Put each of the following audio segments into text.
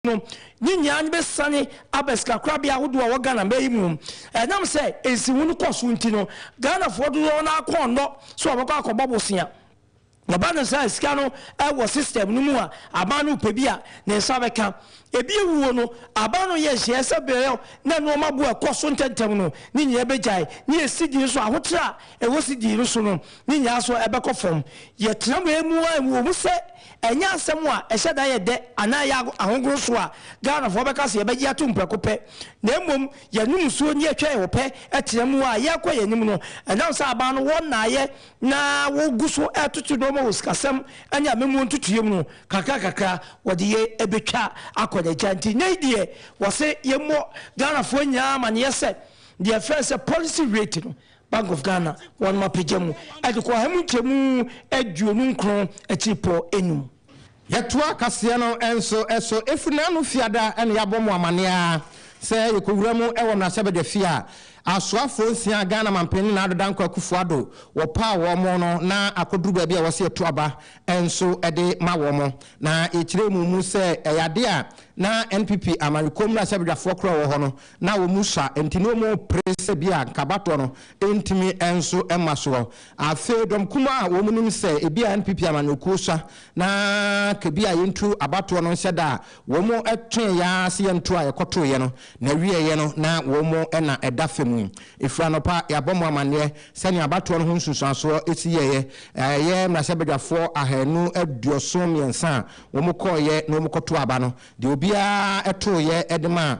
no, ne nyinaa no bɛsiane aba sikakorabea ahodoɔ a ɛwɔ Ghana mmaa yi mu. Ɛnam sɛ nsiho no kɔ so nti no, Ghanafoɔ dodoɔ no ara kɔ nnɔ sɛ wɔbɛkɔ akɔbɔ bosea. Ɛba no saa a, sika no wɔ system no mu a, aban no repɛ bi a, ne nsa bɛka. Ebi awuo no, aban no yɛ nhyehyɛeɛ sɛ berɛ a na nnoɔma bo rekɔ so ntɛmntɛm no, ne nyinaa bɛgyae. Ne yɛ cedi nso, ahokyerɛ a ɛwɔ cedi no so no, ne nyinaa nso bɛkɔ fam. Yɛtena wei mu ara, ɛwɔ mu sɛ, Ɛnyɛ asɛm a ɛhyɛ da yɛ dɛ anaa ɛyɛ ahogono so a Ghanafoɔ bɛka sɛ yɛbɛgye atom prɛko pɛ, na mmom yɛnom nsuo na yɛtwa yɛn ho pɛ tena mu a yɛrekɔ yɛn anim no. Ɛnam sɛ aban no wɔn naayɛ na wɔgu so retoto nnoɔma wɔ sikasɛm ne amammuo ntotoeɛ mu no, kakra kakra wɔde yɛn bɛtwa akɔ n'agya. Nti nnɛ yi deɛ wɔse yɛmmɔ Ghanafoɔ nyinaa amaneɛ sɛ deɛ yɛfrɛ no sɛ policy rate no Bank of Ghana wɔnom apagya mu de kɔ ahamu nkyɛmu aduonu nkron akyiripɔ enum. Yɛtoa kaseɛ no nso so ɛfiri n'ano Fiada na yɛabɔ mo amaneɛ ara sɛ yɛkɔwura mu wɔ mmarahyɛbadwafie a asoafoɔ nsia Ghana Mampanin Nana Addo Dankwa Akufo Addo wɔpaa wɔn no na akɔduru baabi a ɛwɔ sɛ yɛto aba nso de ma wɔn na yɛkyerɛɛ mu mu sɛ ɛyɛ adeɛ a na NPP Amanyɔkuo mmarahyɛbadwafoɔ korɔ a ɛwɔ hɔ no na wɔn sua nti na wɔpere sɛ ebia anka abatoɔ no ntumi nso mma soɔ. Afei dɔm kumaa a wɔn nim sɛ ebia NPP amanyɔkuo sua na anka ebia yɛntu abatoɔ no nhyɛ da a, wɔn twee yɛn ara sɛ yɛnto a yɛkɔtoeɛ no na ɛwieeɛ no na wɔn na ɛda fam yi. Ɛfiri anɔpa yɛabɔ mo amanneɛ sɛnea abatoɔ no ho nsunsuansoɔ si yɛeɛ. Ɛyɛ mmarahyɛbadwafoɔ ahanu aduoson mmiɛnsa a wɔkɔeɛ na wɔkɔtoo aba no Deɛ obiara tooeɛ de maa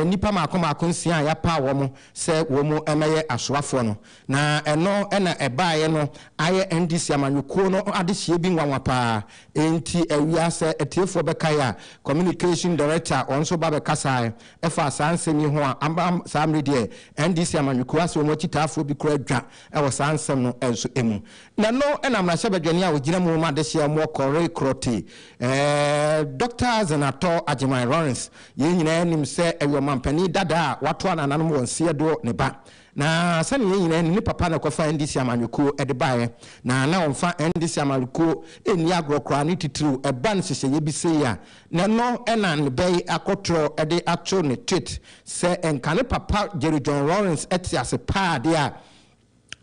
nnipa mmaako mmaako nsia a yɛapaw wɔn sɛ wɔmmɛyɛ asoafoɔ no, na ɛno na ɛbaeɛ no ayɛ NDC amanyɔkuo no adehyeɛ bi nwanwa pa ara. Enti awia, sɛ atiefoɔ bɛkae a, Communication Director ɔno nso ba bɛkasaeɛ faa saa nsɛm yi ho a, ama saa mmere deɛ NDC amanyɔkuo asɛ wɔn akyitaafoɔ bi koraa dwa wɔ saa nsɛm no nso mu. Na no na mmarahyɛbadwani a ogyina mu ma adehyeɛ mɔ kɔre korɔ te ɛɛ Dɔkta Zenatɔ Agyeman Lawrence. Yɛn nyinaa nim sɛ ɛyɛ ɔmanpanin dada a wato anananom wɔ nseɛ do ne ba. Na sɛdeɛ yɛn nyinaa nim ne papa na ɛkɔfa NDC amanyɔkuo de baeɛ. Na na ɔmfa NDC amanyɔkuo nni agorɔ koraa ne titiriw ɛba nhyehyɛeɛ bi sei a, na no na ne bɛ yi akɔtorɔ de ato ne tweet sɛ nka ne papa Jerry John Lawrence te ase paa deɛ a,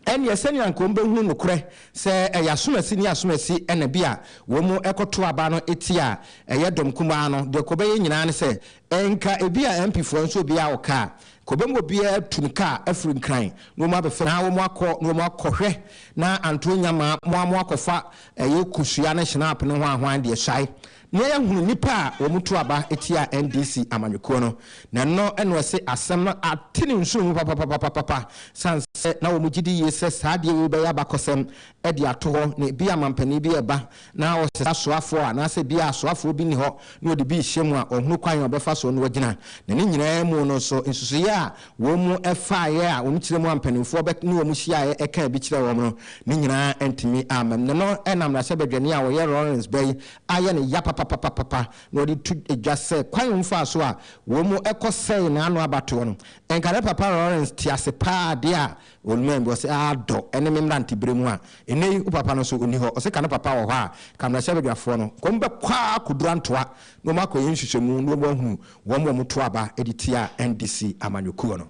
Ɛnneɛ sɛnea anka wɔbɛhunu nokorɛ sɛ ɛyɛ asomasi ne asomasi na bi a wɔn kɔto aba no ti a ɛyɛ dɔm kumaa no, deɛ nka wɔbɛyɛ nyinaa ne sɛ nka bi a MP foɔ nso obiara wɔ kaa, nka wɔbɛma obiara atu ne kaa afiri Nkran na wɔn abɛfɛ na wɔn akɔ na wɔn akɔ hwɛ na anto nnya ma mo a mo akɔfa ɛyɛ kosua ne hyenaap ne hwan hwan deɛ hyae Nea yɛahunu nnipa a wɔto aba tia NDC amanyɔkuo no, na ɛno na ɛse asɛm no ate ne nsono mu papapapapapa, sane sɛ na wɔn gyedi yie sɛ saa adeɛ wei bɛyɛ abakɔsɛm de ato hɔ, na ebia mampanin bi reba na ɔsesa asoafoɔ anaasɛ ebia asoafoɔ bi nni hɔ na ɔde bi rehyɛ mu a ɔhunu kwan a ɔbɛfa soɔ na wagyina. Na ne nyinaa mu no nso, nsusuiɛ a wɔfaeɛ a wɔn kyerɛmu a mpanimfoɔ bɛ ne wɔn hyiaeɛ kaa bi kyerɛɛ wɔn no, ne nyinaa antumi ammam. Na ɛno na mmarahyɛbadwani a ɔyɛ Lawrence Bey, ayɛ no ya papapapapa na wɔde to dwa sɛ kwan a wɔfaa so a wɔkɔsɛee n'ano abatoɔ no, anka na Papa Lawrence te ase paa adeɛ a ɔnumaaɛ bi, ɔse, Aa dɔ ne me mmeranteberɛ mu a, nnɛ yi wo papa no nso ɔnni hɔ, ɔse, ka ne papa wɔ hɔ a, ka mmarahyɛbadwafoɔ no, nka wɔbɛkɔ ara kɔduru Antoa na wɔakɔyɛ nhwehwɛmu na wɔahunu wɔn a wɔto aba de tia NDC amanyɔkuo no.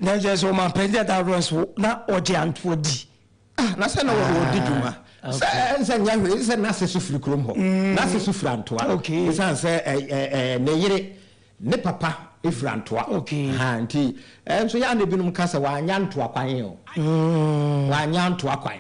Na kyerɛ sɛ ɔmampanin dada Lawrence wo na ɔgye Antoa di. Ah, na sɛ na wɔ- wɔdi dwuma. Ah, Sɛ okay. ɛɛ, sɛ nyɛ hwee sɛ n'ase so firi kurom hɔ. N'ase so firi Antoa. Okay. Esiane sɛ ɛ, ɛ, ɛ, ne yere, ne papa firi Antoa. Okay. Ha, nti, ɛɛ, nso yɛ a na ebinom ka sɛ wanya Ntoa kwan o. Wanya Antoa kwan.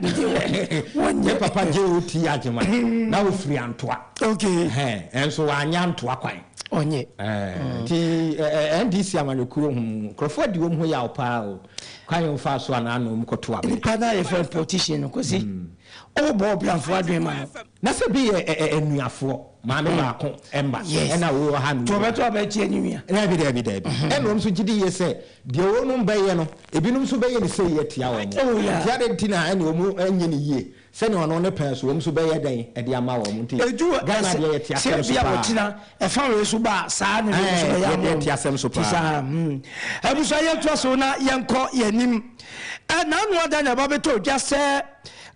Wɔnyɛ. Ne papa JOT Agyeman, na ofiri Antoa. Okay. Ɛhɛn, ɛnso wanya Ntoa kwan. Ɔnye. Ɛɛ nti ɛɛ NDC amanyɔkuo ho nkorɔfoɔ adi wɔn ho yaw paa o. Kwan yɛ wɔn faa so anaa na wɔn kɔ to abɛ. Nipa naa yɛ fɛn no politician no Kwasi. Ɔwɔ bɔ ɔbranfoɔ adwene ma no. Na sɛ bi yɛ ɛɛ anuafoɔ maame baako mma ɛna wɔ ha no. To ɔbɛ to abɛ tia ne nua. Daabi daabi daabi ɛna wɔn nso gye di yie sɛ deɛ wɔn bɛyɛ no ebinom nso bɛyɛ ne sei atia wɔn. Nti adeɛ nti na ɛna wɔn nyɛ ne yie Sɛnea ɔno ne pɛn so wɔn nso bɛyɛ dɛn de ama wɔn nti Ghana deɛ yɛte asɛm so paa. Sɛ bia wɔtena ɛfa wei so ba a saa na wɔn nso bɛyɛ ama wɔn. Yɛte asɛm so paa. Abusua yɛn toa so na yɛn kɔ yɛn anim. Ɛna ano ada na ɛba bɛtɔ dwa sɛ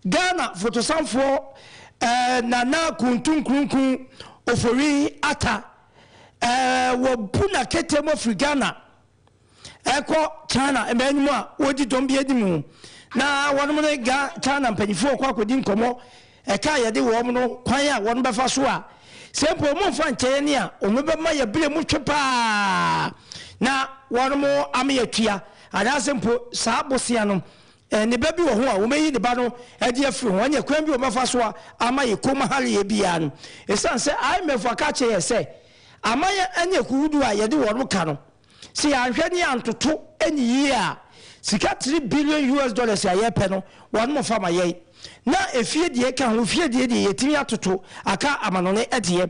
Ghana fotosanfoɔ Nana Kuntu Nkrumkum Ofori Atta wɔ bu na kete mu afiri Ghana. ɛkɔ China mmaa no mu a wɔdi dɔm bi anim na wɔnom ne ga China mpanyinfoɔ ɔkɔ akɔdi nkɔmmɔ ɛka yɛde wɔn no kwan a wɔn bɛfa so a sɛ mpo wɔn mfa nkyɛeɛ ne a wɔn bɛma yɛ bere mu twe paa na wɔnom ama yɛtua anaasɛ mpo saa bosea no ne ba bi wɔ ho a wɔbɛyi ne ba no adi afiri ho ɛne kwan bi wɔbɛfa so a ama yɛ kɔm haleɛ biara no ɛsiane sɛ IMF aka kyerɛ yɛ sɛ Amanyɛ ne akuhodoɔ a yɛde wɔn ka no, sɛ yɛanhwɛ ne yɛantoto anyi yie a, sika three billion US dollars a yɛpɛ no, wɔnom fa ma yɛn. Na efie deɛ ɛka ho, fie deɛ deɛ yɛtumi atoto aka amanone ɛteɛ.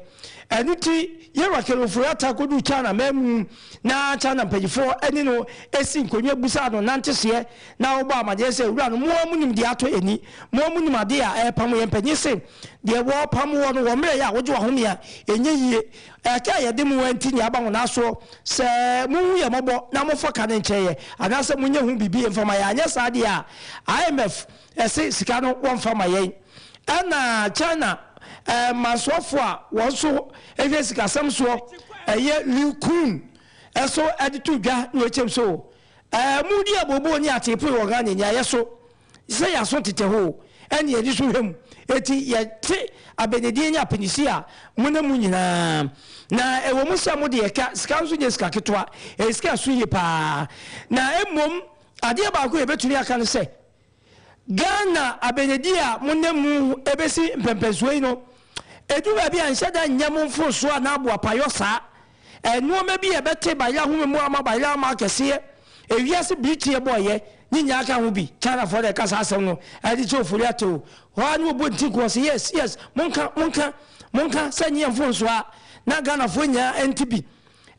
Ɛno nti yɛn Raquel Ofori-Atta kɔduu Chan amanmu na Chan mpanyifoɔ ne no si nkonnwa bisaa no nanteseɛ na wɔbɔɔ amaneɛ sɛ, Wura no, mo ara monim deɛ atɔ yɛn ani, mo ara monim adeɛ a ɛrepamo yɛn. Mpanyin se. Deɛ wɔpam woɔ no, wɔ mmerɛ yɛ a wogye w'ahome a, ɛnyɛ yie. Ɛka a yɛde mo woa nti nea aba ho naaso sɛ mohu yɛn mmɔbɔ na mofɔ ka no nkyɛ yɛ anaasɛ monyɛ ho biribi mfa ma yɛn anyɛ saa deɛ a IMF se sika no wɔmfa ma yɛn ɛna China mansoɔfoɔ a wɔn nso hwɛ sikasɛm soɔ ɛyɛ Liu Kun nso de too dwa na ɔkyɛm so, Ɛɛ modi abooboo ne ateepoe wɔ Ghana nyaeɛ so. sɛ yɛn aso tetɛ hɔ o, ɛne yɛn ani so hwɛ mu, enti yɛte abɛnedie ne apinisi a monam mu nyina ara. Na ɛwɔ mu sɛ mode yɛka, sika nso nyɛ sika ketewa, ɛyɛ sika a ɛso yie pa ara. Na mmom adeɛ baako a yɛbɛtumi aka ne sɛ, Ghana abɛnedie a monam mu bɛsi mpɛnpɛnsoɔ yi no, ɛduru baabi a nhyɛ da nnyɛ mo mforosoɔ anaa boapayɔ saa, Nnoɔma bi a ɛbɛte bayɛ ahome mu ama bayɛ ama akɛseɛ, ewiase bere tie bɔɔyɛ, ne nyinaa ka ho bi. Chinafoɔ na ɛka saa asɛm no, ɛde kyerɛ ofori atew. Hɔ ara na wɔbɔ nti nko, wɔse yes, yes, monka, monka, monka, sɛ ɛnyɛ yɛn mfomsoɔ a, na Ghanafoɔ nyinaa nte bi.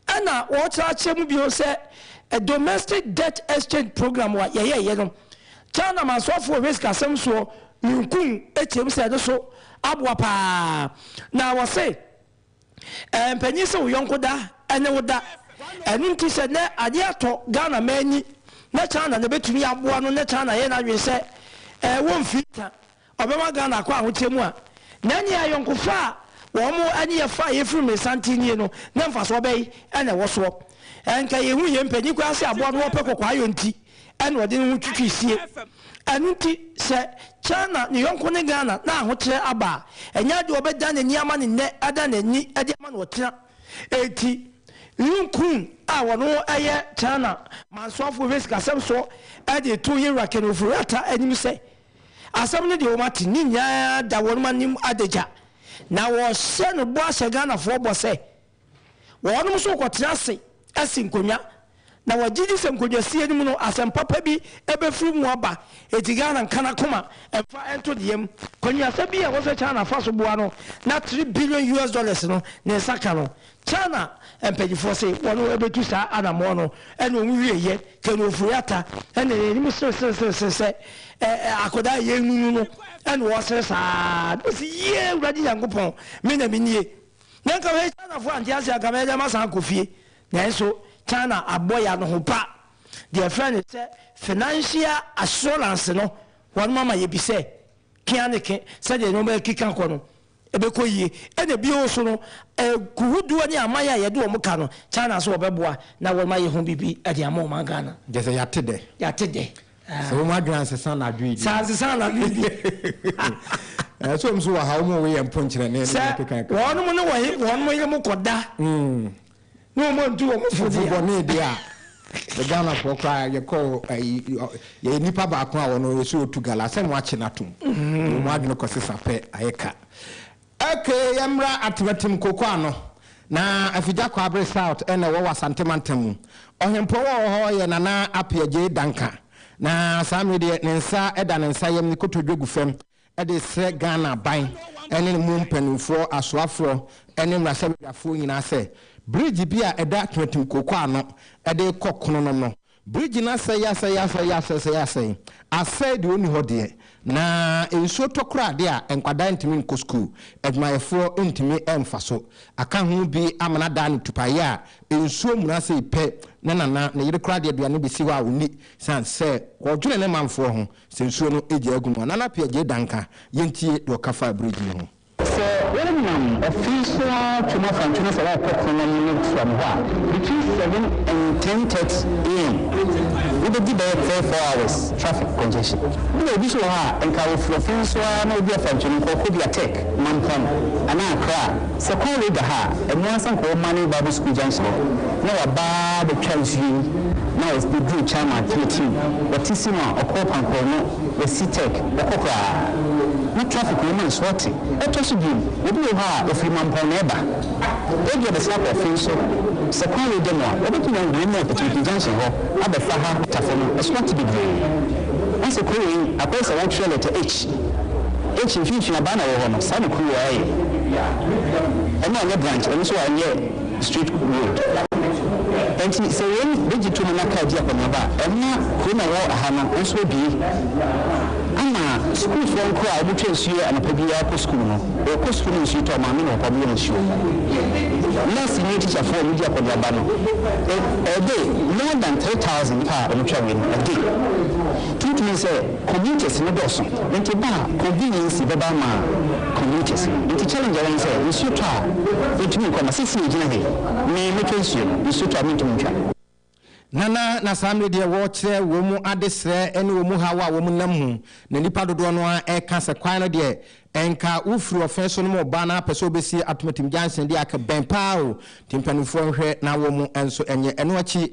Ɛna wɔkyerɛ akyerɛ mu bio sɛ domestic debt exchange programme a yɛyɛeɛ no, China amansoɔfoɔ risk asɛm soɔ Yun Kung kyerɛ mu sɛ ɛno nso aboa pa ara. Na wɔse. Ɛmpanyin sɛ wo yɔnko da ɛne wo da. Ɛno nti sɛ nɛ adeɛ atɔ Ghana mmaa ani nɛ China na ɛbɛtumi aboa no nɛ China yɛ n'adwene sɛ ɛɛ wɔmfiri nka ɔbɛma Ghana akɔ ahoteɛ mu a, nɛ ɛneɛ ayɔnkofa a wɔn ɛne yɛ fa a yɛfiri mmirsa nte nie no nɛ mfasoɔ bɛn na ɛwɔ soɔ? Ɛnka yɛhu yɛn mpanyin koraa sɛ aboa no wɔpɛ kɔkɔayɔ nti. ɛna ɔde ne ho twitwi sie. Ɛno nti sɛ China ne yɔnko ne Ghana na ahokyerɛ aba a, ɛnyɛ ade a ɔbɛdan n'ani ama no nnɛ adan n'ani de ama no ɔkyena. Enti Lun Kun a ɔno yɛ China mansoafo wɔ sikasɛm so de reto Yewura Ken Ofori-Atta anim sɛ, Asɛm no deɛ wɔate, ne nyinaa da wɔn anim adagya. Na wɔhyɛ no bɔ ahyɛ Ghanafoɔ bɔ sɛ, Wɔnom nso rekɔtena ase asi nkonnwa, na wɔgye di sɛ nkonnwasie no mu no asɛm papa bi bɛfiri mu aba. Enti Ghana nka n'akoma mfa nto ne yam. Kɔnguasa bi a wɔhwɛ China fa so boa no na three billion US dollars no ne nsa ka no. China mpanyinfoɔ se wɔn bɛtu saa anamɔn no ɛna wɔn wieɛ. Ken Ofori Atta na n'anim sere sere sere sere sɛ akwadaa a yɛnunu no ɛna ɔresere saa na ɔse yie Awurade Nyankopɔn me na menie. Na nka hwɛ Chinafoɔ ante aseɛ anka mɛgya masan akɔ fie nanso China abɔ ya no ho pa deɛ ɛfrɛ no sɛ financial assurance no wɔnom ama yɛbi sɛ kea ne ke sɛdeɛ nnoɔma ɛkeka kɔ no ɛbɛkɔ yie ɛna bio so no kuhuduɔ ne aman a yɛde wɔn ka no China so wɔbɛboa na wɔnom ayɛ ho biribi ɛde ama ɔman Ghana. Gyɛ sɛ yɛate dɛ. Yɛate dɛ. Sɛ wɔn adwene ansesa anadwo yi bi. Sɛ ansesa anadwo yi bi. Ɛɛ sɛ wɔn nso wɔ ha wɔn a wɔyɛ mpɔnkyerɛ ne ne keka keka. Sɛ wɔn ne wɔn wɔn yere mu kɔda. Mm. Ne wɔn ntu wɔn fo deɛ. Fofo ne deɛ a. Ghana fo kora yɛ kɔ ayi yɛ nipa baako a wɔn yɛ so otu gala sɛ wɔn akye n'atum. Wɔn adwene kɔ sesa pɛ ayɛ ka. Ok yɛmmra Atemetem Cocoa ano na Afigya Kwabere South na ɛwɔ wɔ Asante Mantam mu. Ɔhempɔn wɔ wɔ hɔ yɛ Nana Appiah Gyei Danka na saa mmere deɛ ne nsa da ne nsa yam ne kotodwe gu fam de resrɛ Ghana aban ne ne mu mpaninfoɔ, asoafoɔ ne mmarahyɛbadwafoɔ nyinaa sɛ bridge bi a ɛda Atemetem Cocoa ano de kɔ Kononom no Bridge no asɛe asɛe asɛe asɛe asɛe asɛe deɛ ɔnni hɔ deɛ na nsuo tɔ koraa adeɛ a nkwadaa ntumi nkɔ sukuu adwumayɛfoɔ ntumi mfa so aka ho bi ama no adaa no tupaeɛ a nsuo muna sei pɛ na nana ne yere koraa de aduane bɛsi hɔ a ɔnni sane sɛ ɔdwene ne manfoɔ ho sɛ nsuo no gyaa agu no a Nana Appiah Gyei Danka yɛntie deɛ ɔka faa bridge no ho. Sɛ wonam ɔfe so ara twam afa ntwene sɛ worekɔ kuro no anim resoa me hɔ a, between seven and ten thirty AM wobɛdi bɛyɛ three four hours traffic congestion. Wona obi nso wɔ hɔ a, nka ɔfiri ɔfe so ara na ɔdi afa ntwene nkɔɔ Kobia Tech, Mampong anaa Accra. Sɛ kwan wei da hɔ a, ɛmmoa ara sɛ nka ɔwɔ Mane Bible School junction hɔ na waba abɛtwa nsuo yi na ɔduru Chama, Teatim, Watisi na ɔkɔ Pankoro no. Esi Turk bɛkɔ koraa na traffic wom a so ɔte? Ɛtɔ so bio, obi wɔ hɔ a ofiri Mampɔn na ɛba. Ebia ɔbɛsan akɔ Offe nso. Sɛ kwan no da mu a, obetumi ahu yɛn nam Apirimpi Junction hɔ abɛfa ha Tafo no. Ɛso ate bebree. Na sɛ kurow wei akɔyɛ sɛ wɔtwerɛ lɛta H, H mfimfini abaa na ɛwɔ hɔ no, saa na kurow wei ayɛ. Ɛno anyɛ branch, ɛno nso anyɛ. Street Road. Enti sɛ wei begye tom na kaa di akɔneaba a, ɛmma kurom a ɛwɔ ha no nso abue ama sukuufoɔ nkoraa a wɔtwa nsuo anɔpa biara kɔ sukuu no. Wɔkɔ sukuu no nsuo tɔ, maame na ɔkɔ nom nsuo. Nɛɛse ne tikyafoɔ a wɔdi akɔneaba no, ɛ, ɛde more than three thousand nipa a wɔtwa wei no, ɛde. Tumi tumi sɛ. Commuters no dɔɔso nti ba a convenience bɛba ama commuters no nti challenge a ɛwɔ ne sɛ nsuo tɔ a yɛntumi nkɔ na sesei yɛgyina ha yi me mɛtwa nsuo no nsuo tɔ a mentumi ntwa. Nana, na saa mmere deɛ wɔrekyerɛ wɔn adesrɛ ne wɔn haw a wɔn nam mu na nnipa dodoɔ no ara reka sɛ kwan no deɛ ɛnka wo firi ɔfee so no mu reba na apɛ sɛ wɔbɛsi Atomatam junction deɛ aka bɛn paa o nti mpaninfoɔ nhwɛ na wɔn nso nyɛ ɛno akyi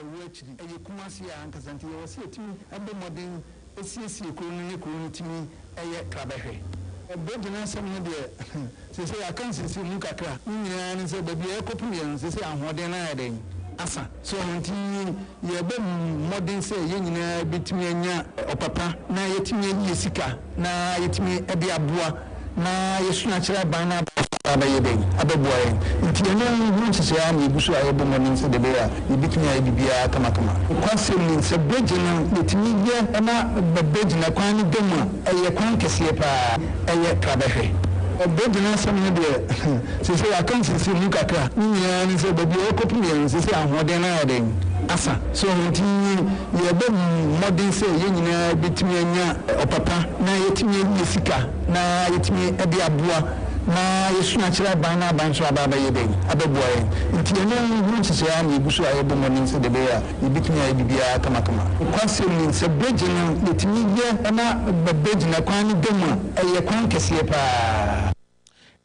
ɛwɔ akyiri. Ɛyɛ Kumasi ara ankasa nti yɛwɔ sɛ yɛtumi bɔ mmɔden siesie kuro no ne kuro no tumi yɛ krabɛhwɛ. Bɛgyina asɛm no deɛ seesei yɛaka nsisi mu kakra. Ne nyinaa ne sɛ baabi a yɛkɔpem yɛn no seesei ahoɔden no ayɛ dɛn? Asa. So ɛno nti yɛbɔ mmɔden sɛ yɛn nyinaa bɛtumi anya ɔpapa na yɛatumi ayie sika. na yɛtumi de aboa na yɛsua akyerɛ aban na aban nso aba abɛyɛ dɛn? Abɛboa yɛn. Nti ɛno ho nhyehyɛe ara na yɛgu so a yɛbɔ mmɔden sɛdeɛ ɛbɛyɛ a yɛbɛtumi ayɛ biribiara kamakama. Nokwasɛm ni, sɛ bɛgye no yɛtumi yɛ na bɛgye no kwan no da mu a, ɛyɛ kwan kɛseɛ pa ara, ɛyɛ pra bɛhwɛ. Bɛgye no asɛm no deɛ, seesei yɛaka nsisi ho kakra, ne nyinaa ne sɛ baabi a yɛkɔpem yɛ no seesei ahoɔden no ayɛ dɛn? Asa. So nti. Yɛbɔ mmɔden sɛ yɛn nyinaa bɛtumi anya ɔpapa na yɛatumi anya sika na yɛatumi de aboa ma yɛasua akyerɛ aban na aban nso aba abɛyɛ dɛn? Abɛboa yɛn. Nti ɛno ho nhyehyɛe ara na yɛgu so a yɛbɔ mmɔden sɛdeɛ ɛbɛyɛ a yɛbɛtumi ayɛ biribiara kamakama. Nokwasɛm ni, sɛ bregye no yɛtumi yɛ na bregye no kwan no da mu a, ɛyɛ kwan kɛseɛ pa ara.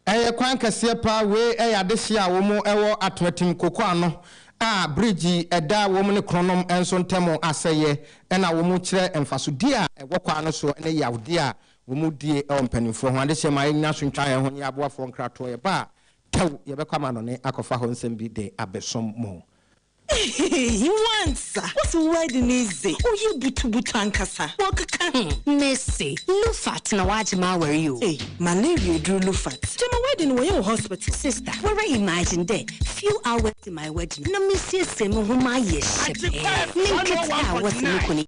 Ɛyɛ kwan kɛseɛ paa, wei yɛ adehyeɛ a wɔn wɔ Atoatim Koko ano a bridge ɛda wɔn ne Kronom nso ntam asɛeɛ ɛna wɔn kyerɛ mfasodie a ɛwɔ kwan no soɔ ne yawdeɛ a wɔn die ɛwɔ mpaninfoɔ ho adehyeɛ ma yɛnyina so ntwa yɛn ho nyɛ aboafoɔ nkratoɔ yɛba a tɛw yɛbɛkɔ amanɔne akɔfa hɔ nsɛm bi de abɛsom mo. Ehehe wansa wo se wedding no dze ɔyɛ butubutu ankasa wɔkeka ho. Mese Lufat na wagye m'awar yi o. Ei malaria eduru Lufat gyama wedding no wɔyɛ wɔ hospital. Sister wara imagine dɛ few hours to my wedding no na mesiesie moho mayɛ hyɛpɛɛ ne nketewa a wɔse mokɔ ne.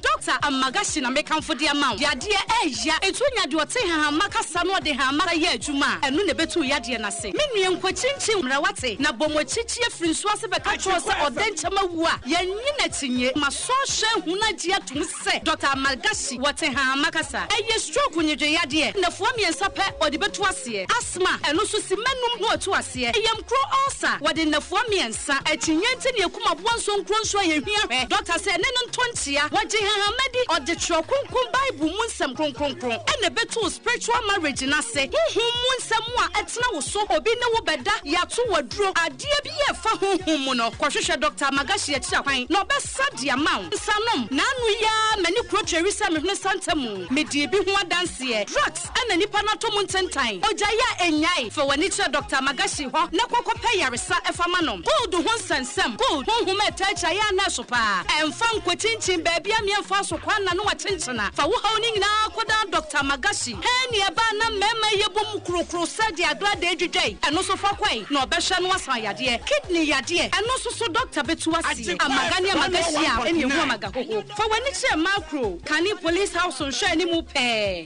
Doctor Amagashi na mekamfo de ama wo. Yadeɛ ɛɛya. Etuo nya deɛ ɔte hahamma kasa na ɔde hahamma kasa yɛ adwuma a, ɛno na ɛbɛtu yadeɛ no ase. Me nua, nkɔkyinkyin mmara, woate? Na bɔ mu akyikyiɛ firi nsuo ase bɛka kyerɛ wo sɛ ɔdɛnkyɛm awu a, yɛnnye no akyinnye. Ma sɔhwɛ ahunu agye atom sɛ Doctor Amagashi wɔte hahamma kasa. Ɛyɛ stroke nnyegyeyadeɛ. Nnafua mmiɛnsa pɛ ɔde bɛtu aseɛ. Asthma, ɛno nso simma num na watu aseɛ. Yam kuro ulcer, wɔde nnafua mmiɛnsa. Sa akyinnye nti ne akum aboa nso nkuro nsu a yɛhia hwɛ dɔkta sɛ ɛne no ntɔ nkyea. Wɔgye hahama di, ɔde twerɛ kronkron Bible mu nsɛm kronkronkron ɛna ɛbɛtoo spiritual marriage no ase. Honhom mu nsɛm a ɛtena wo so, obi ne wo bɛda, yɛato wo aduro, adeɛ bi a ɛfa honhom mu no, kɔhwehwɛ Dɔkta Magashi akyira kwan na ɔbɛsa de ama wo. Nsanom, N'ano yi ara m'ani kuro tweri sɛ mehwene santa mu. Medii bi ho adanseɛ. Drugs. Ɛna nnipa no atɔ mu ntentan. Ogyae a ennyae, fa w'ani kyerɛ Dɔkta Magashi hɔ na kɔ kɔpɛ yaresa ɛfa ma no. Cold ho nsɛnsɛm, cold, honhom a ɛtaa gyae a na ɛso paa. Ɛmfa nkɔkyinkyin baabi a mmea mfaa so kwan na no akyenkyena. Fa wo haw no nyinaa kɔdan Dɔkta Magashi. Hernia ba a na mmarima yɛ bom kurokuro sɛdeɛ agradaa dwidwa yi, ɛno nso fa kɔe na ɔbɛhwɛ na wasan yadeɛ. Kidney yadeɛ, ɛno nso so dɔkta bɛtu aseɛ. Amaga ne Amagashi a ɛne ɛhu Amagahoho. Fa w'ani kyerɛ Macro, kane Police House nhwɛanimu pɛɛ.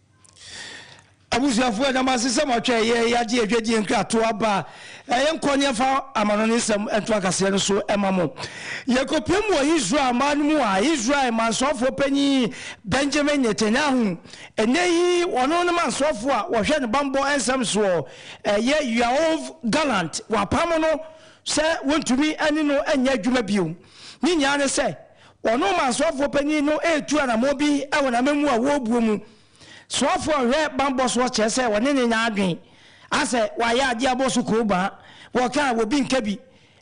Abusuafo, ɛda mo ase sɛ moatwa ɛyɛ yi agye adwadie nkratoɔ aba a ɛyɛ nkɔ ne ɛfa amanɔne nsɛm ntoakaseɛ no so ma mo. Yɛkɔpie mu wɔ Israel man no mu a Israel mansoɔfoɔ panin Benjamin Netanyahu, ɛnnɛ yi ɔno ne mansoɔfoɔ a wɔhwɛ ne bammɔ nsɛm soɔ, ɛyɛ Yoav Gallant, wɔapamo no sɛ wɔntumi ne no nyɛ adwuma bio. Ne nyinaa ne sɛ, Wɔn Roman soafoɔ panin no retu anammɔn bi wɔ n'amamu a wɔrebuo mu. Soafoɔ a ɔhwɛ bammɔ soɔ kyerɛ sɛ wɔne no nya adwene. Asɛ wayɛ adeɛ abɔ so koobaa. Wɔka a, obi nka bi.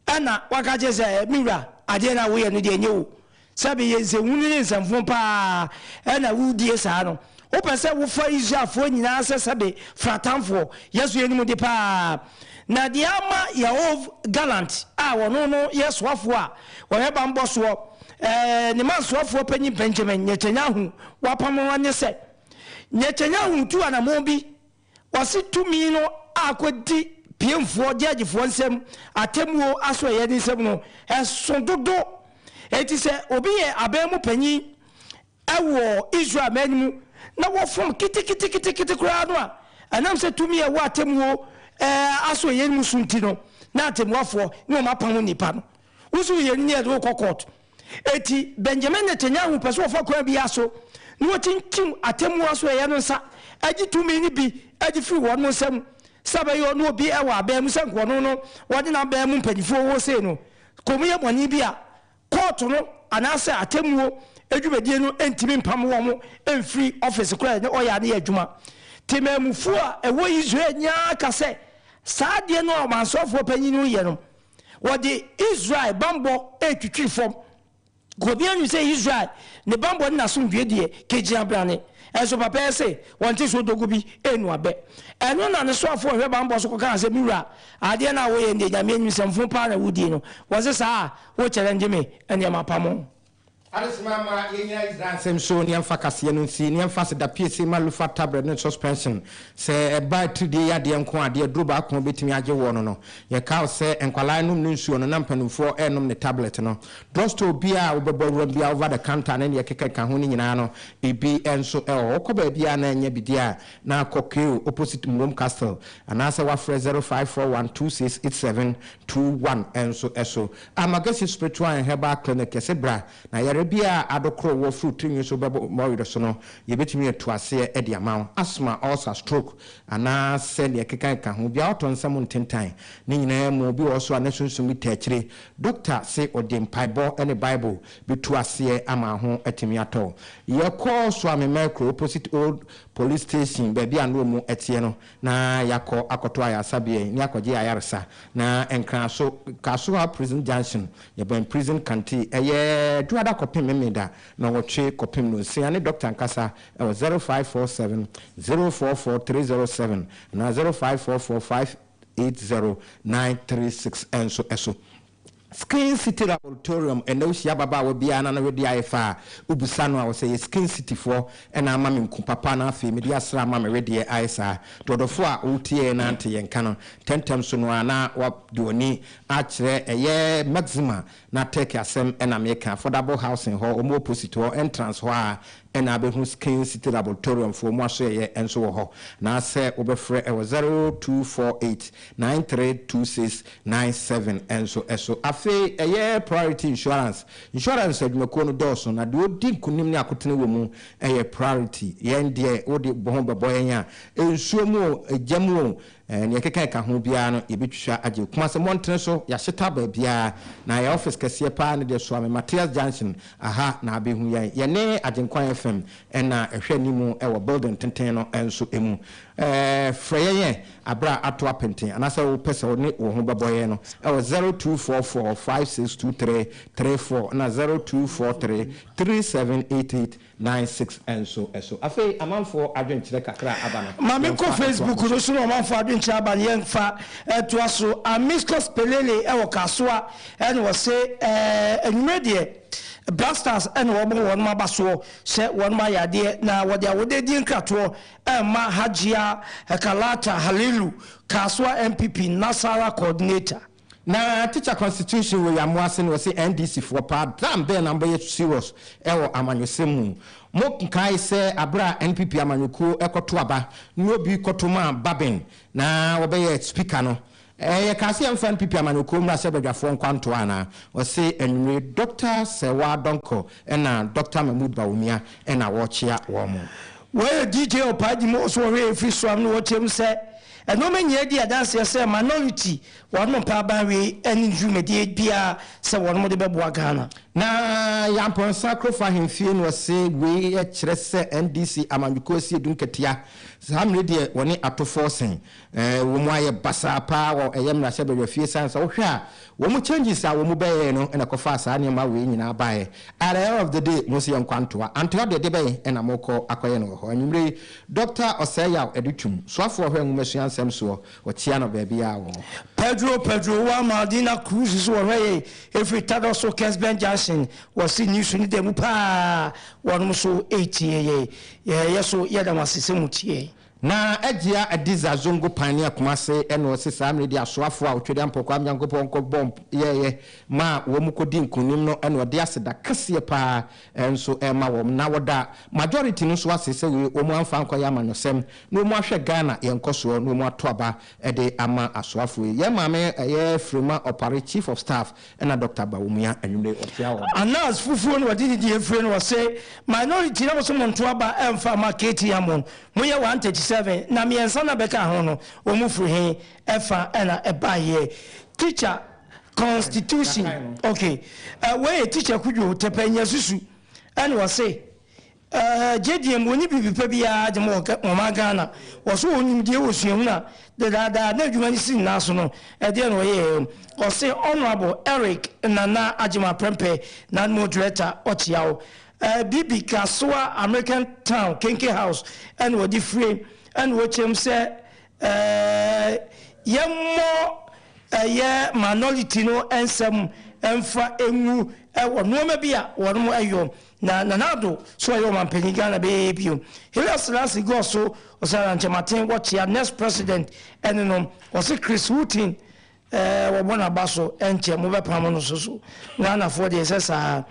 Ɛnna waka akyerɛ sɛ, Me wura, adeɛ no a woreyɛ no deɛ, ɛnyɛ o. Sɛbe yɛ nsɛnhunu ne nsɛmfoo pa ara na woredie saa no, Wopɛ sɛ wofa Israelfoɔ nyinaa sɛ sɛbe fra atamfoɔ? Yɛ so yɛnim de paa. Na deɛ ama Yoav Gallant a ɔno no yɛ soafoɔ a ɔyɛ banbɔ soɔ, ɛɛ, ne mansoafoɔ panin Benjamin Netanyahu wapam no nye sɛ, Netanyahu tu anamɔn bi, ɔse tumi no akɔdi piemfoɔ, gyɛɛgyefoɔ, nsam, atemmuo asoɛeɛ no nsam no, ɛso dodo. Enti sɛ obi yɛ aban mu panin wɔ Israel man mu na wɔfom ketekete koraa no a, ɛnam sɛ tumi a ɛwɔ atemmuo aso yɛn mu so nti no, na atɛmmuafoɔ ne wɔn apamo nnipa no. Wo nso woyɛ no ne yɛde wo kɔ kɔɔt. Enti Benjamin Netanyahu pɛ sɛ ɔfa kwan biara so na ɔkyinkyim atɛmmuo asoɛeɛ no nsa gye tumi no bi de firi wɔn nsam sɛ ɛbɛyɛ ɔno obi wɔ abɛn mu sɛ nka ɔno no ɔne n'abɛn mu mpanimfoɔ wɔ sei no kommyɛ bɔne bi a Kɔɔto no anaasɛ atemmuo dwumadie no ntumi mpam wɔn mfiri ɔfese korɔ a ɛne ɔya no yɛ adwuma. Temanmufoɔ a ɛwɔ Israel nyinaa ka sɛ saa adeɛ no a ɔmansɔfoɔ panin no reyɛ no, wɔde Israel bammɔ retwitwiri fam. Obiara nim sɛ Israel ne bammɔ ne n'asomdwoeɛ deɛ kɛgyina brane. Nso papa yi se wɔnte so dogo bi nnu abɛ. Ɛno na ne soafoɔ a ɔhwɛ bammɔ so kɔkaa sɛ, Me wura, adeɛ no a woreyɛ no deɛ Nyame anim sɛ mfom pa ara na woredie no. Wɔse saa a, Wo kyɛrɛ ngye me nneɛma pa mo. Adesima mma yɛnyina Israel nsɛm so ne yɛmfa kaseɛ no nsi, ne yɛmfa aseda piesie mma Lufa tabrɛd ne suspension. Sɛ ɛba atiridie yadeɛ nko a, deɛ aduro baako bɛtumi agye woɔ no no. Yɛkaw sɛ nkwadaa nnom ne nsuo no na mpanimfoɔ renom ne tablet no. Drugstore biara a wobɛbɔ awuram biara over the counter ne deɛ ɛkekakeka ho no nyinaa no biribi nso wɔ hɔ. Wokɔ baabiara a na ɛnyɛ bi deɛ a, na kɔ Kew opposite Mmwom Castle anaasɛ woafrɛ 0541 2687 two one nso so. Amagesi Spiritual and Herbal Clinic yɛse bra na yare biara a adokoro wɔ firi wo tirinwi so bɛbɔ wo were so no yɛbɛtumi atu aseɛ de ama wo. Asthma, ulcer, stroke anaa sɛ deɛ ɛkeka keka ho biara ɔtɔ nsɛm ntentan ne nyinaa mu obi wɔ hɔ so a ne sunsum bi taa akyire dɔkta se ɔde mpaebɔ ne bible bɛtu aseɛ ama ho atumi atɔ wo. Yɛkɔ Suame Mercury opposite old police station baabi a na ɔmu teɛ no na yɛakɔ akɔto ayarsabea yi na yɛakɔgye ayarsa, na Nkrasõ, Kasoa Prison Junction, yɛbɛn Prison Canteen, ɛyɛ Dwoada kɔpem Mmeda nɔnwɔtwe kɔpem nonsia ne dɔkta ankasa wɔ zero five four seven, zero four four three zero seven anaa zero five four four five eight zero nine three six nso so. Skin City Laboratorium Ɛnnɛ wohyia ababaawa biara na ne wede ayɛ fɛ a, wobisa no a, ɔsɛ ɛyɛ Skin Cityfoɔ na ama me nku papa na afei mede asra ama me wedeɛ ayɛ saa. Dɔdɔfoɔ a woteɛ yɛn na nte yɛn nka no, ntɛmntɛm so no ara na wode w'ani akyerɛ ɛyɛ Maxima na Turkey asɛm na meka. Affordable Housing hɔ, wɔwɔ Posit hɔ, Entrance hɔ ara Ɛna abɛhu Skin City Laboratorium foɔ mu asoɛeɛ nso wɔ hɔ. Na sɛ wobɛfrɛ ɛwɔ zero two four eight nine three two six nine seven nso so. Afei ɛyɛ Priority Insurance. Insurance adwumakuo no dɔɔso na deɛ ɔdi nkunim ne akotene wɔ mu yɛ Priority. Yɛn deɛ wode wo ho bɛbɔ yɛn a, nsuo mu o, gya mu o, Nea ɛkeka ɛka ho biara no yɛbɛtwitwa agye. Kumase mmɔntene so, yɛahyeta baabiara, na yɛn office kɛseɛ paa no deɛ Suame Matthias Junction, aha na abɛhu yɛn. Yɛne Agyenkwa FM na ɛhwɛ anim wɔ building tenten no nso mu. Frɛ yɛn ɛ aberɛ a ato apenten anaasɛ wo pɛ sɛ wo ne wo ho bɛbɔ yɛn no wɔ zero two four four five six two three three four na zero two four three three seven eight eight Nine six nso so. Afei amanfoɔ adwenkyerɛ kakra a aba no, Ma me nkɔ yɛmfa ntoa Facebook no so. no so na ɔmanfoɔ adwenkyerɛ aba no yɛmfa ntoa so. Amicus Pelele wɔ Kasoa na wɔse anwumerɛ deɛ Black Stars na wɔbɔ wɔnom aba soɔ sɛ wɔnom ayɛ adeɛ na wɔde awodedie nkratoɔ rema Hajia Kalata Halilu, Kasoa NPP Nasarawa Coordinator. Na teacher constitution wɔ yɛn moase no ɔse NDC foɔ paa dam bɛn na mobɛyɛ serious wɔ amanyɔsɛm mu mo nkae sɛ aberɛ a NPP amanyɔkuo kɔto aba ne obi kɔto maa Babin na wɔbɛyɛ speaker no yɛ kaa sɛ yɛmfa NPP amanyɔkuo mmra sɛ badwafoɔ nkwantoa anaa ɔse anwummere Doctor Serwaa Donkor ɛna Doctor Mahmood Bawumia ɛna wɔrekyea wɔn. Wɔyɛ DJ Opah Agyim wɔ so wɔ Hwɛ Yei Firi So ano na wɔkyerɛ mu sɛ, Nnoɔma nyinaa di adanseɛ sɛ Minority wɔnom mpaaba hwee ɛne ne dwumadie biara sɛ wɔnom de bɛboa Ghana. Na Yampɔnsa Kurofo Ahemfie na wɔse wei kyerɛ sɛ NDC amanyɔkuo asi adum katia. Saa mmere deɛ wɔne atofoɔ sen. Wɔn ayɛ basaa paa wɔ ɛyɛ mmarahyɛbadwafie sane sɛ wohwɛ a Wɔn changes a wɔn bɛyɛɛ no na ɛkɔfaa saa nneɛma wei nyinaa baeɛ. At the end of the day, mo nso yɛ nkwa ntoa. Antoa deɛ, de bɛn na morekɔ akɔyɛ no wɔ hɔ? Anwumerɛ yi, Doctor Ɔsɛeyaw de twam. Soafoɔ ɔhwɛ nwomasua nsɛm soɔ, wɔkyea no baabiara wɔ hɔ. Pedro, Pedro, wo a Maldina Cruz nso wɔhwɛ yɛn ɛfiri Tardoso Kesben Junction wɔ Sydney so no da mu pa ara, wɔnom nso retie yɛn. Yɛyɛ so, yɛda mo ase sɛ motie yɛn. Na Agyia Adiza Zongo Pioneer Kumasi ɛna ɔsi saa mmerɛ di asoafoɔ a Otwedeɛ Ampɔkwaa Nyankopɔn kɔ bɔ mp yɛɛyɛ maa wɔn kɔ di nkunim no ɛna ɔde aseda kɛseɛ paa nso ɛɛma wɔn na ɔda majority no nso ase sɛ wɔn amfa ankɔyɛ amanyɔsɛm na wɔn ahwɛ Ghana yɛn nkɔsoɔ na wɔn ato aba Ɛde ama asoafoɔ yi. Yɛn maame ɛyɛ Frema Opare Chief of Staff ɛna Doctor Bawumia anwummerɛ yi ɔkyea wɔn. Anas fufuo na ɔde didi efire no ɔse minority na ɔse monto aba mfa ma Katie Ammon moyɛ 137 na miɛnsa na bɛka ho no wɔn firi he ɛfa na ɛbaeɛ teacher constitution ok wei yɛ teacher kudwo tɛpɛ nyasusu ɛna ɔse Ɛɛ, gyedie mu, wɔnni biribi pa biara de ma wɔ wɔn man Ghana. Wɔso wɔn nimdie wɔ suahunu a dedaada na adwuma no si ne nan so no, ɛdeɛ na wɔyɛɛ. Ɔse Honourable Eric Nana Agyemang Prempeh, Naanimo Director, ɔkyea wo. Ɛɛ, Bibi Kasoa American Town Kenke House ɛna wɔde fire ɛna wɔkyea mu sɛ, ɛɛ, yɛmmɔ ɛyɛ minority no nsɛm mfa ngu ɛwɔ nnoɔma bi a wɔnom yɔ. Na Nana Addo nso a ɔyɛ ɔmanpanyin Ghana bɛyɛ yɛ bio. Haile Selassie gɔɔ so ɔsra na nkyɛmaten wɔ kyea next president ɛne no ɔse Chris Wooten ɛɛ wɔbɔ naba so ɛnkyɛ mo bɛ pamo no so so Ghana foɔ deɛ ɛsɛ saa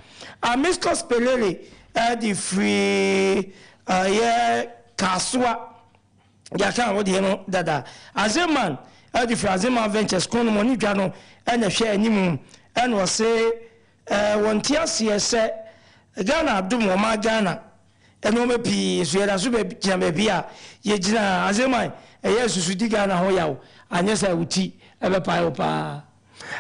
Amicus Pelele ɛɛ de firi ɛyɛ Kasoa yɛaka wo deɛ no dada Azeman ɛɛ de firi Azeman Ventures kɔn no mo ne dwa no ɛna ɛhwɛ animu ɛna ɔse. Ɛɛ wɔnte aseɛ sɛ Ghana adom wɔn maa Ghana nnoɔma pii nso yɛda so bɛ gyina baabi a yɛ gyina a ansa mu a ɛyɛ susu di Ghana ho yaw anyɛ saa wo ti bɛ pae wo paa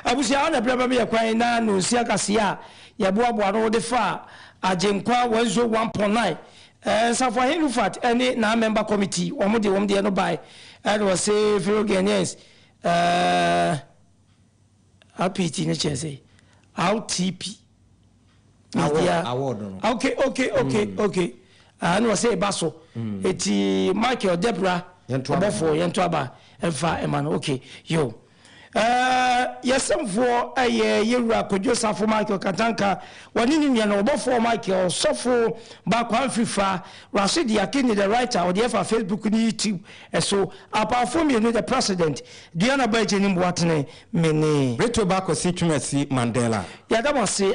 Abusua ha na ɛberɛ bɛ me yɛ kwan na nonsia kaseɛ a yɛ boa boa ano wo de faa Agyenkwa 101.9 ɛɛ Nsafoahen Rufat ne naa mɛmba kɔmiti wɔn de wɔn deɛ no bae ɛɛ na wɔse Philo Guianeens ɛɛ. Apt no kyerɛ sɛ Outp media ok ok ok ok ah na ɔsɛ eba so eti Michael Debra ɔbɔfoɔ yɛn to aba ɛnfa ɛma no ok yo ɛɛ yɛsɛmfoɔ ɛyɛ yɛwura Kwadwo Safo Michael Katanka wɔne ne nua no ɔbɔfoɔ Michael ɔsɔfo Ba Kwanfi Fa Rashidi Akinyi the writer ɔde ɛfa Facebook ne YouTube Ɛso apaafo mmienu, the president, Diana Baigye ne Mboatene Mene. Brittle Bakwasi Twumasi Mandela. Yɛda mo ase.